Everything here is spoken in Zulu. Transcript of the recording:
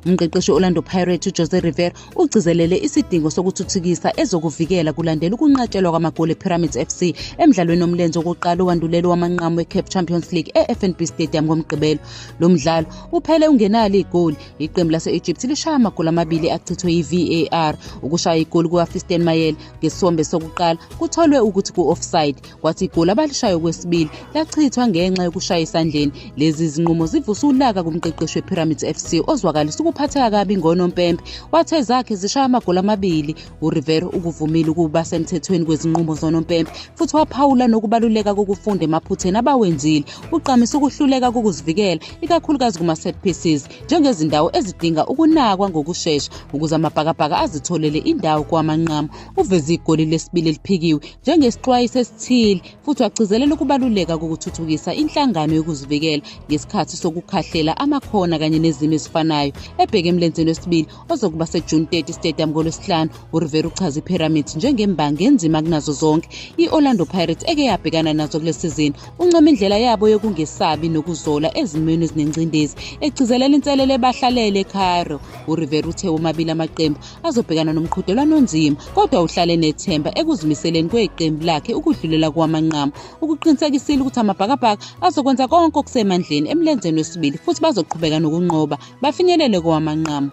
Umqeqeshi we-Orlando Pirates uJose Rivera ugcizelele isidingo sokuthuthukisa ezokuvikela kulandela ukunqatshelwa kwamagoli ePyramids FC emdlalweni omlenze wokuqala owandulelo wamanqamu weCAF Champions League eFNB Stadium ngoMgqibelo. Lo mdlalo uphele ungenalo igoli, iqembu lase-Egypt lishaya amagoli amabili achithwe yi-VAR. Ukushaya igoli kukaFisten Mayele ngesombe sokuqala kutholwe ukuthi ku-offside. kwathi igoli abalishayo kwesibili lachithwa ngenxa yokushaya esandleni lezi zinqumo zivuse ulaka kumqeqeshi wepyramids f c ozwakalisa ukuphatheka kabi ngonompempe wathe zakhe zishaya amagoli amabili urivero ukuvumile ukuba semthethweni kwezinqumo zonompempe futhi waphawula nokubaluleka kokufunda emaphutheni abawenzile uqamisa ukuhluleka kokuzivikela ikakhulukazi kuma-set pieces njengezindawo ezidinga ukunakwa ngokushesha ukuze amabhakabhaka azitholele indawo kowamanqamu uveze igoli lesibili eliphikiwe njengesixwayiso esithile futhi wagcizelela ukubaluleka kokuthuthukisa inhlangano yokuzivikela ngesikhathi sokukhahlela amakhona kanye nezimo ezifanayo ebheke emlenzeni wesibili ozokuba sejuni 30 stadium ngolwesihlanu urivera uchaza ipyramids njengembangi enzima kunazo zonke i-orlando pirates eke yabhekana nazo kule sizini uncoma indlela yabo yokungesabi nokuzola ezimweni ezinengcindezi egcizelela inselelo ebahlalele ecairo urivera uthe womabili amaqembu azobhekana nomqhudelwano onzima kodwa uhlale nethemba ekuzimiseleni kweqembu lakhe ukudlulela kwamanqamu ukuqinisekisile ukuthi amabhakabhaka azokwenza konke okusemandleni emlenzeni wesibili futhi bazoqhubeka nokunqoba bafinyelele kowamanqamu